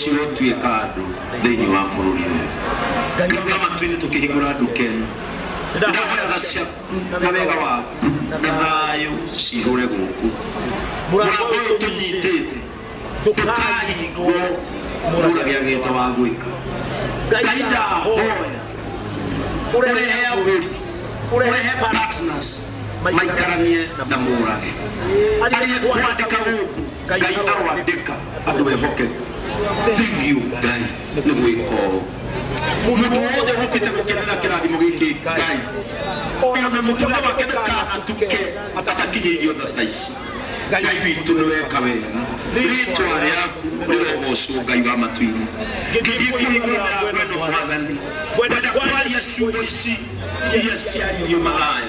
cirotuĩka andũ thĩinĩ wa bũrũri ũyũ nĩgetha matuinĩ tũkĩhingũra nduka ĩno ndahoya tha ciaku na wega waku na thayũ cihũre gũkũ mũrango ũyũ tũnyitĩte ndũkahingwo mũragĩa gĩta wa gwĩka ngai ndahoya ũrehe agũri ũrehe partners maikaranie na mũrage ariĩ kwandĩka gũkũ ngai arwandĩka andũ ehokeku thengiũ ngai nĩ gwĩka ũũ mũndũ wothe ũkĩte gũkenera kĩrathimo gĩkĩ ngai ona mũtũrĩre wake ndakanatuke atakinyĩirio tha ta ici ngai witũ nĩ weka wega rĩtwa rĩaku rĩrogocwo ngai wa matu-inĩ ngĩthiĩ kũhingũra mĩrango ĩno mwathani kwenda kwaria ciugo ici iria ciaririo magaya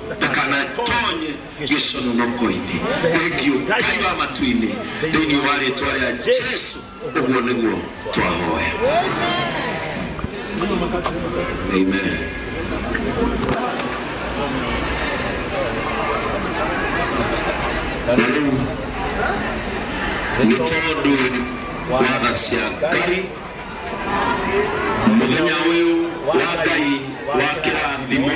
ndakanatonye gĩcononoko-inĩ thengiũ ngai wa matu-inĩ thĩinĩ wa rĩtwa rĩa jesu ũguo nĩguo twahoya amen na rĩu nĩ tondũ wa tha cia ngai mũthenya ũyũ wa ngai wa kĩrathimo